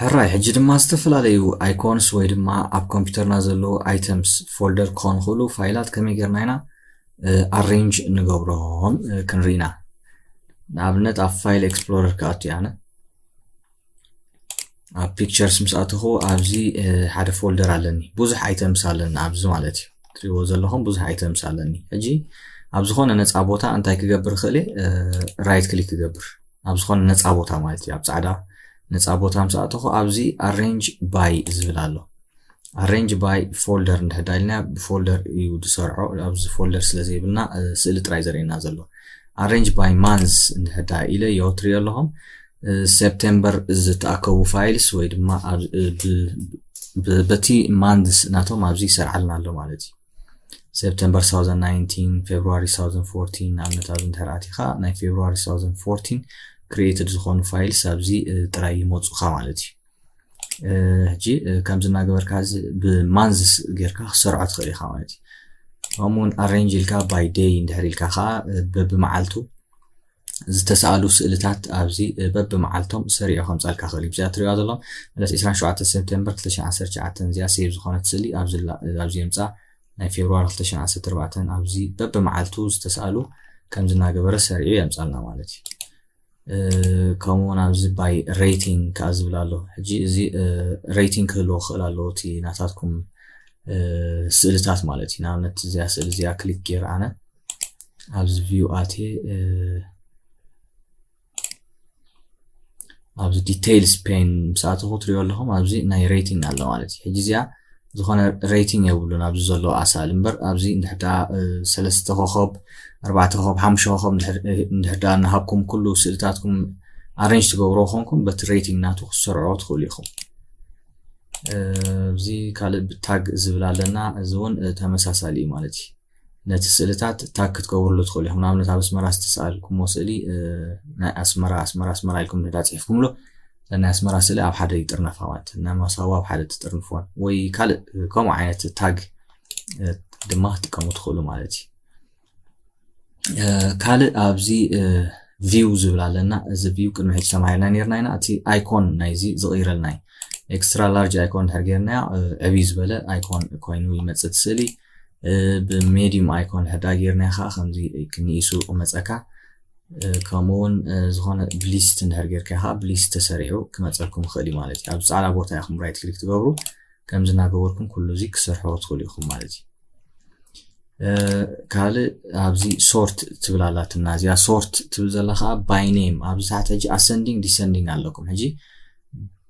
ሕራይ ሕጂ ድማ ዝተፈላለዩ ኣይኮንስ ወይ ድማ ኣብ ኮምፒውተርና ዘለዉ ኣይተምስ ፎልደር ክኾኑ ክእሉ ፋይላት ከመይ ጌርና ኢና ኣሬንጅ ንገብሮም ክንርኢና ንኣብነት ኣብ ፋይል ኤክስፕሎረር ክኣቱ ኣነ ኣብ ፒክቸርስ ምስ ኣተኹ ኣብዚ ሓደ ፎልደር ኣለኒ ብዙሕ ኣይተምስ ኣለኒ ኣብዚ ማለት እዩ ትሪእዎ ዘለኹም ብዙሕ ኣይተምስ ኣለኒ ሕጂ ኣብ ዝኾነ ነፃ ቦታ እንታይ ክገብር ክእል ራይት ክሊክ ክገብር ኣብ ዝኾነ ነፃ ቦታ ማለት እዩ ኣብ ፃዕዳ ነፃ ቦታ ምስ ኣተኹ ኣብዚ ኣሬንጅ ባይ ዝብል ኣሎ ኣሬንጅ ባይ ፎልደር እንድሕዳ ኢልና ብፎልደር እዩ ዝሰርዖ ኣብዚ ፎልደር ስለ ዘይብልና ስእሊ ጥራይ ዘርእየና ዘሎ ኣሬንጅ ባይ ማንዝ እንድሕዳ ኢለ ዮ ትሪኦ ኣለኹም ሴፕቴምበር ዝተኣከቡ ፋይልስ ወይ ድማ በቲ ማንዝ ናቶም ኣብዚ ይሰርዓልና ኣሎ ማለት እዩ ሰፕተምበር 2019 ፌብሪ 2014 ንኣብነት ኣብዚ እንተ ኣቲኻ ናይ ፌብሪ 2014 ክሪኤትድ ዝኾኑ ፋይልስ ኣብዚ ጥራይ ይመፁኻ ማለት እዩ ሕጂ ከምዚ እናገበርካ እዚ ብማንዝስ ጌርካ ክሰርዖ ትኽእል ኢኻ ማለት እዩ ከምኡውን ኣሬንጅ ኢልካ ባይ ደይ እንድሕር ኢልካ ከዓ በብመዓልቱ ዝተሳእሉ ስእልታት ኣብዚ በብመዓልቶም ሰሪዑ ከምጻልካ ክእል እዩ። እዚኣ ትሪእዋ ዘሎ ዕለት 27 ሰፕተምበር 2019 እዚኣ ሴቭ ዝኾነት ስእሊ ኣብዚ የምጻ ናይ ፌብርዋሪ 2014 ኣብዚ በብመዓልቱ ዝተሳእሉ ከምዚ እናገበረ ሰሪዑ የምጻልና ማለት እዩ። ከምኡውን ኣብዚ ባይ ሬቲንግ ከዓ ዝብል ኣሎ ሕጂ እዚ ሬቲንግ ክህልዎ ክኽእል ኣለዎ እቲ ናታትኩም ስእልታት ማለት እዩ ንኣብነት እዚኣ ስእሊ እዚኣ ክሊክ ገይረ ኣነ ኣብዚ ቪው ኣትየ ኣብዚ ዲቴይልስ ፔን ምስ ኣተኹ ትሪኦ ኣለኹም ኣብዚ ናይ ሬቲንግ ኣሎ ማለት እዩ ሕጂ እዚኣ ዝኾነ ሬቲንግ የብሉን ኣብዚ ዘሎ ኣሳል እምበር ኣብዚ እንድሕዳ ሰለስተ ኮኸብ ኣርባዕተ ኮኸብ ሓሙሽተ ኮኸብ እንድሕዳ እናሃብኩም ኩሉ ስእልታትኩም ኣረንጅ ትገብሮ ኮንኩም በቲ ሬቲንግ ናቱ ክትሰርዖ ትኽእሉ ኢኹም እዚ ካልእ ብታግ ዝብል ኣለና እዚ እውን ተመሳሳሊ እዩ ማለት እዩ ነቲ ስእልታት ታግ ክትገብርሉ ትኽእሉ ኢኹም ንኣብነት ኣብ ኣስመራ ዝተሰኣልኩሞ ስእሊ ናይ ኣስመራ ኣስመራ ኣስመራ ኢልኩም ንዳ ፅሒፍኩምሎ ናይ ኣስመራ ስእሊ ኣብ ሓደ ይጥርነፋ ማለት ናይ ማሳዋ ኣብ ሓደ ትጥርንፍዎን ወይ ካልእ ከምኡ ዓይነት ታግ ድማ ክትጥቀሙ ትኽእሉ ማለት እዩ ካልእ ኣብዚ ቪው ዝብል ኣለና እዚ ቪው ቅድሚ ሕጂ ተማሂርና ነርና ኢና እቲ ኣይኮን ናይዚ ዝቕይረልና እዩ ኤክስትራ ላርጅ ኣይኮን ድሕር ገርናዮ ዕብይ ዝበለ ኣይኮን ኮይኑ ይመፅእ ስእሊ ብሜድዩም ኣይኮን ሕዳ ጌርናዮ ከዓ ከምዚ ንኢሱ ይቕመፀካ ከምኡ እውን ዝኾነ ብሊስት እንድሕር ጌርካ ከዓ ብሊስት ተሰሪዑ ክመፀልኩም ይኽእል እዩ ማለት እዩ ኣብዚ ፃዕዳ ቦታ ኢኹም ራይት ክሊክ ትገብሩ ከምዚ እናገበርኩም ኩሉ እዚ ክሰርሖ ትኽእሉ ኢኹም ማለት እዩ ካልእ ኣብዚ ሶርት ትብል ኣላትና እዚኣ ሶርት ትብል ዘላ ከዓ ባይ ኔም ኣብዚ ታሕቲ ሕጂ ኣሰንዲንግ ዲሰንዲንግ ኣለኩም ሕጂ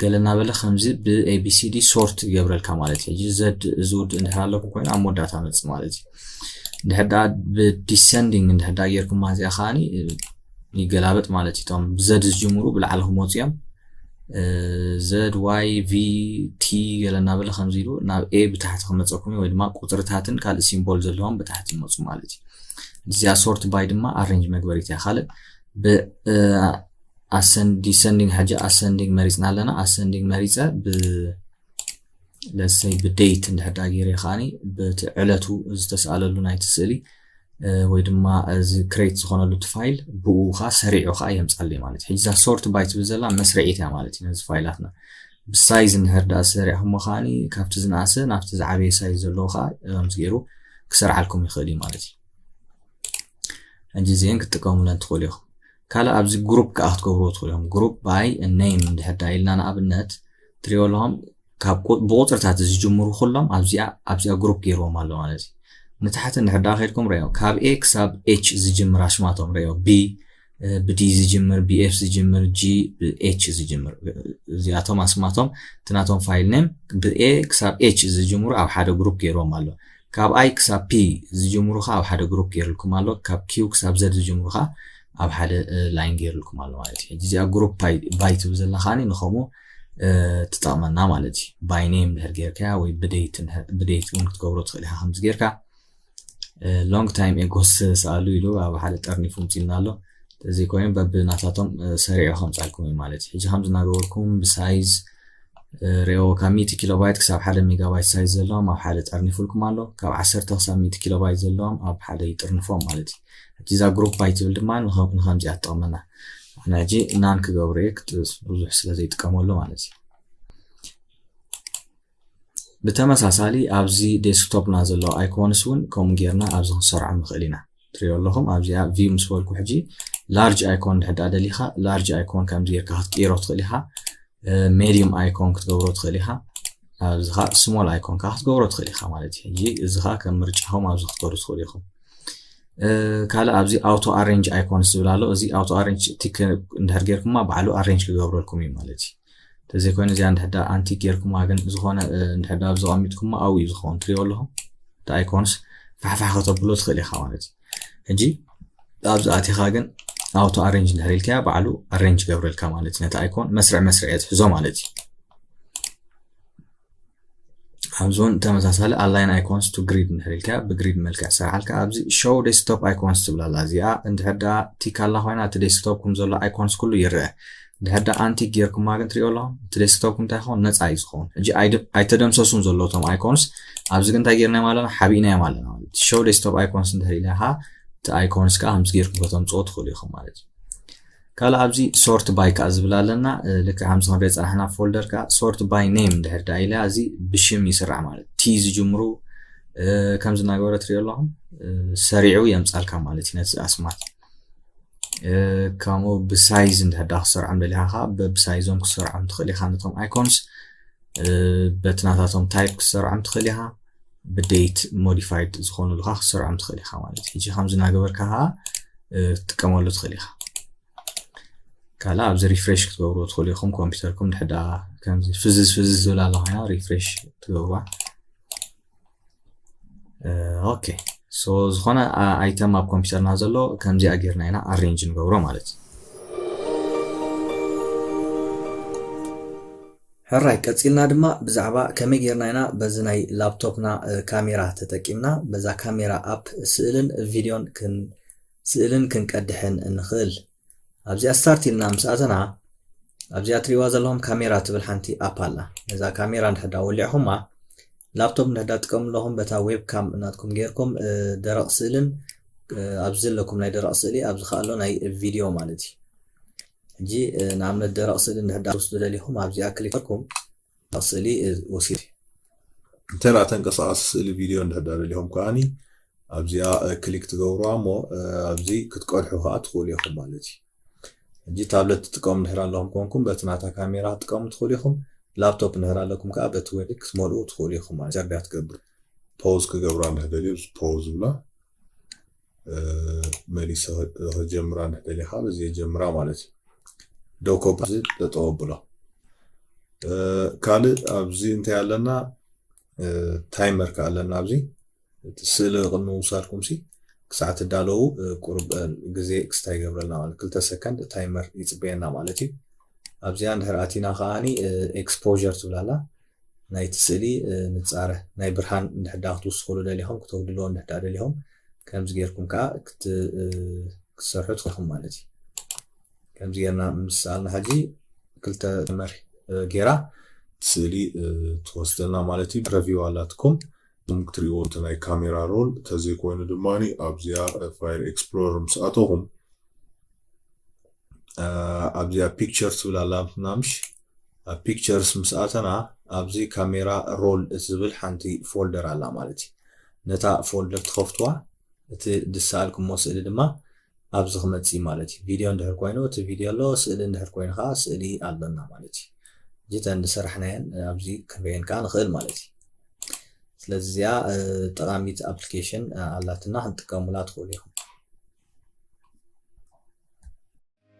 ገለ እናበለ ከምዚ ብኤቢሲዲ ሶርት ይገብረልካ ማለት እዩ ሕጂ ዘድ እዚ ውድ እንድሕር ኣለኩም ኮይኑ ኣብ መወዳእታ መፅ ማለት እዩ እንድሕር ዳ ብዲሰንዲንግ እንድሕር ዳ ጌርኩማ እዚኣ ከዓኒ ይገላበጥ ማለት እዩ እቶም ብዘድ ዝጅምሩ ብላዕሊ ክመፁ እዮም ዘድ ዋይ ቪ ቲ ገለ እናበለ ከምዚ ኢሉ ናብ ኤ ብታሕቲ ክመፀኩም እዩ ወይ ድማ ቁፅርታትን ካልእ ሲምቦል ዘለዎም ብታሕቲ ይመፁ ማለት እዩ እዚኣ ሶርት ባይ ድማ ኣሬንጅ መግበሪት እያ ካልእ ዲሰንዲንግ ሕጂ ኣሰንዲንግ መሪፅና ኣለና ኣሰንዲንግ መሪፀ ብ ለሰይ ብደይት እንድሕዳ ገይረ ከዓኒ በቲ ዕለቱ ዝተስኣለሉ ናይቲ ስእሊ ወይ ድማ እዚ ክሬት ዝኾነሉ እቲ ፋይል ብኡ ከዓ ሰሪዑ ከዓ የምፃለይ ማለት እዩ ሕጂ እዛ ሶርት ባይ ትብል ዘላ መስርዒት እያ ማለት እዩ ነዚ ፋይላትና ብሳይዝ እንድሕር ዳኣ ሰሪዕኹሞ ከዓኒ ካብቲ ዝነኣሰ ናብቲ ዝዓበየ ሳይዝ ዘለዎ ከዓ ከምዚ ገይሩ ክሰርዓልኩም ይኽእል እዩ ማለት እዩ ሕጂ እዚአን ክትጥቀሙለን ትኽእሉ ኢኹም ካልእ ኣብዚ ግሩፕ ከዓ ክትገብርዎ ትኽእሉ እዮም ግሩፕ ባይ ነይም እንድሕር ዳ ኢልና ንኣብነት ትሪኦ ኣለኹም ካብ ብቁፅርታት ዝጅምሩ ኩሎም ኣብዚኣ ኣብዚኣ ግሩፕ ገይርዎም ኣሎ ማለት እዩ ንታሕቲ እንድሕር ዳ ከድኩም ሪኦ ካብ ኤ ክሳብ ኤች ዝጅምር ኣሽማቶም ሪኦ ቢ ብዲ ዝጅምር ብኤፍ ዝጅምር ጂ ብኤች ዝጅምር እዚኣቶም ኣስማቶም እቲ ናቶም ፋይል ነም ብኤ ክሳብ ኤች ዝጅምሩ ኣብ ሓደ ግሩፕ ገይርዎም ኣሎ ካብ I ክሳብ P ዝጅምሩ ከኣ ኣብ ሓደ ግሩፕ ጌርልኩም ኣሎ። ካብ Q ክሳብ Z ዝጅምሩ ከኣ ኣብ ሓደ ላይን ጌርልኩም ኣሎ ማለት እዩ። ሕጂ እዚኣ ግሩፕ ባይ ትብል ዘላ ከኣ ንከምኡ ትጠቕመና ማለት እዩ። ባይ ኔም ድሕር ጌርካያ ወይ ብደይት ብደይት እውን ክትገብሮ ትኽእል ኢኻ ከምዚ ጌርካ ሎንግ ታይም ኤጎስ ሰኣሉ ኢሉ ኣብ ሓደ ጠርኒፉ ምፅና ኣሎ እዚ ኮይኑ በብናታቶም ሰሪዑ ከምፃልኩም እዩ ማለት እዩ ሕጂ ከምዚ እናገበርኩም ብሳይዝ ርኤዎ፣ ካብ ሚእቲ ኪሎባይት ክሳብ ሓደ ሜጋባይት ሳይዝ ዘለዎም ኣብ ሓደ ጠርኒፉልኩም ኣሎ። ካብ ዓሰርተ ክሳብ ሚእቲ ኪሎባይት ዘለዎም ኣብ ሓደ ይጥርንፎም ማለት እዩ። ሕጂ እዛ ግሩፕ ባይ ትብል ድማ ንከምዚኣ ትጠቕመና። ኣነ ሕጂ ናን ክገብሮ እየ ብዙሕ ስለ ዘይጥቀመሉ ማለት እዩ። ብተመሳሳሊ ኣብዚ ዴስክቶፕና ዘለዉ ኣይኮንስ እውን ከምኡ ጌርና ኣብዚ ክንሰርዖም ንኽእል ኢና። ትሪኦ ኣለኹም ኣብዚኣ ቪው ምስ በልኩ ሕጂ ላርጅ ኣይኮን ድሕር ዳኣ ደሊኻ ላርጅ ኣይኮን ከምዚ ጌርካ ክትቅይሮ ትኽእል ኢኻ ሜዲየም ኣይኮን ክትገብሮ ትኽእል ኢኻ ኣብዚ ከዓ ስሞል ኣይኮን ከዓ ክትገብሮ ትኽእል ኢኻ ማለት እዩ ሕጂ እዚ ከዓ ከም ምርጫኹም ኣብዚ ክትገብሩ ትኽእሉ ኢኹም ካልእ ኣብዚ ኣውቶ ኣሬንጅ ኣይኮንስ ዝብል ኣሎ እዚ ኣውቶ ኣሬንጅ ቲክ እንድሕር ጌርኩማ ባዕሉ ኣሬንጅ ክገብረልኩም እዩ ማለት እዩ ተዘይኮይኑ እዚኣ እንድሕዳ ኣንቲ ጌርኩማ ግን ዝኾነ እንድሕዳ ኣብዚ ቀሚጥኩማ ኣብኡ እዩ ዝኸውን ትሪኦ ኣለኹም እቲ ኣይኮንስ ፋሕፋሕ ከተብሎ ትኽእል ኢኻ ማለት እዩ ሕጂ ኣብዚ ኣቲኻ ግን ኣውቶ ኣሬንጅ እንድሕር ኢልካያ ባዕሉ ኣሬንጅ ገብረልካ ማለት እዩ ነቲ ኣይኮን መስርዕ መስርዕ እየ ዝሕዞ ማለት እዩ ኣብዞን ተመሳሳሊ ኣላይን ኣይኮንስ ቱ ግሪድ እንድሕር ኢልካ ብግሪድ መልክዕ ሰራዓልካ ኣብዚ ሾው ዴስክቶፕ ኣይኮንስ ትብላ ኣላ እዚኣ እንድሕር ደኣ ቲክ ኣላ ኮይና እቲ ዴስክቶፕ ከም ዘሎ ኣይኮንስ ኩሉ ይርአ እንድሕር ደኣ ኣንቲ ጌርኩማ ግን ትሪኦ ኣለኹ እቲ ዴስክቶፕ እንታይ ይኸውን ነፃ እዩ ዝኸውን ሕጂ ኣይተደምሰሱን ዘሎ እቶም ኣይኮንስ ኣብዚ ግን እንታይ ጌርናዮም ኣለና ሓቢእናዮም ኣለና ማለት እዩ ሾው ዴስክቶፕ ኣይኮንስ እንድሕር ኢልካ እቲ ኣይኮንስ ከዓ ከምዚ ጌርኩም ከተምፅኦ ትኽእሉ ኢኹም ማለት እዩ ካልእ ኣብዚ ሶርት ባይ ከዓ ዝብል ኣለና ልክዕ ከምዚ ክንሪኦ ፀናሕና ፎልደር ከዓ ሶርት ባይ ኔም እንድሕር ደኣ ኢለ እዚ ብሽም ይስራዕ ማለት ቲ ዝጅምሩ ከምዚ እናገበረ ትሪኦ ኣለኹም ሰሪዑ የምፃልካ ማለት እዩ ነቲ ኣስማት ከምኡ ብሳይዝ እንድሕር ደኣ ክሰርዖም ደሊኻ ከዓ በብሳይዞም ክሰርዖም ትኽእል ኢኻ ነቶም ኣይኮንስ በቲ ናታቶም ታይፕ ክሰርዖም ትኽእል ኢኻ ብደይት ሞዲፋይድ ዝኾኑልካ ክትሰርዖም ትኽእል ኢኻ ማለት እዩ ሕጂ ከምዚ እናገበርካ ከዓ ትጥቀመሉ ትኽእል ኢኻ ካልእ ኣብዚ ሪፍሬሽ ክትገብርዎ ትኽእሉ ኢኹም ኮምፒውተርኩም ድሕዳ ከምዚ ፍዝዝ ፍዝዝ ዝብል ኣላ ኮይና ሪፍሬሽ ትገብርዋ ኦኬ ሶ ዝኾነ ኣይተም ኣብ ኮምፒውተርና ዘሎ ከምዚኣ ጌርና ኢና ኣሬንጅ ንገብሮ ማለት እዩ ሕራይ ቀጺልና ድማ ብዛዕባ ከመይ ጌርና ኢና በዚ ናይ ላፕቶፕና ካሜራ ተጠቂምና በዛ ካሜራ ኣፕ ስእልን ቪድዮን ስእልን ክንቀድሕን እንኽእል ኣብዚኣ ስታርት ኢልና ምስ ኣተና ኣብዚኣ ትሪእዋ ዘለኹም ካሜራ ትብል ሓንቲ ኣፕ ኣላ ነዛ ካሜራ ንሕዳ ወሊዕኹማ ላፕቶፕ ንሕዳ ጥቀሙ ኣለኹም በታ ዌብ ካም እናትኩም ጌርኩም ደረቕ ስእልን ኣብዚ ዘለኩም ናይ ደረቕ ስእሊ ኣብዚ ከኣሎ ናይ ቪድዮ ማለት እዩ ሕጂ ንኣብነት ደረቕ ስእሊ እንድሕር ደኣ ክትወስዱ ደሊኹም ኣብዚኣ ክሊክ ገርኩም ደረቕ ስእሊ ወሲድ እንተ ደኣ ተንቀሳቓሲ ስእሊ ቪድዮ እንድሕር ደኣ ደሊኹም ከኣኒ ኣብዚኣ ክሊክ ትገብሩዋ እሞ ኣብዚ ክትቀድሑ ከኣ ትኽእሉ ኢኹም ማለት እዩ ሕጂ ታብለት ትጥቀሙ እንድሕር ኣለኹም ኮንኩም በቲ ናታ ካሜራ ክትጥቀሙ ትኽእሉ ኢኹም ላፕቶፕ እንድሕር ኣለኩም ከኣ በቲ ዌብ ክትመልኡ ትኽእሉ ኢኹም ማለት ጀርዲያ ትገብር ፖዝ ክገብራ እንድሕር ደልዩ ፖዝ ብላ መሊሰ ክጀምራ እንተደሊኻ በዚ ጀምራ ማለት እዩ ዶኮ ብዚ ጠጠው ብሎ ካልእ ኣብዚ እንታይ ኣለና ታይመር ከ ኣለና ኣብዚ እቲ ስእሊ ቅድሚ ምውሳድኩም ሲ ክሳዕ ትዳለዉ ቁርብ ግዜ ክስታ ይገብረልና ማለት ክልተ ሰከንድ ታይመር ይፅበየና ማለት እዩ ኣብዚኣ እንድሕር ኣቲና ከዓኒ ኤክስፖር ትብላላ ናይቲ ስእሊ ንጻረ ናይ ብርሃን እንድሕር ደኣ ክትውስኹሉ ደሊኹም ክተጉድልዎ እንድሕር ደኣ ደሊኹም ከምዚ ጌርኩም ከኣ ክትሰርሑ ትኽእልኩም ማለት እዩ ከምዚ ጌርና ምስ ሰኣልና ሕጂ ክልተ መር ጌራ ስእሊ ትወስደልና ማለት እዩ ረቪው ኣላትኩም እዞም ክትሪእዎ እቲ ናይ ካሜራ ሮል ተዘይኮይኑ ድማ ኣብዚኣ ፋይል ኤክስፕሎረር ምስ ኣተኹም ኣብዚኣ ፒክቸር ትብል ኣላትና ምሽ ኣብ ፒክቸርስ ምስ ኣተና ኣብዚ ካሜራ ሮል እትብል ሓንቲ ፎልደር ኣላ ማለት እዩ ነታ ፎልደር ትኸፍትዋ እቲ ድሰኣልክሞ ስእሊ ድማ ኣብዚ ክመጽእ እዩ ማለት እዩ ቪድዮ እንድሕር ኮይኑ እቲ ቪድዮ ኣሎ ስእሊ እንድሕር ኮይኑ ከዓ ስእሊ ኣሎና ማለት እዩ እዚ ተን ዝሰራሕናየን ኣብዚ ክንርእየን ከዓ ንኽእል ማለት እዩ ስለዚ እዚኣ ጠቃሚት ኣፕሊኬሽን ኣላትና ክንጥቀሙላ ትኽእሉ ኢኹም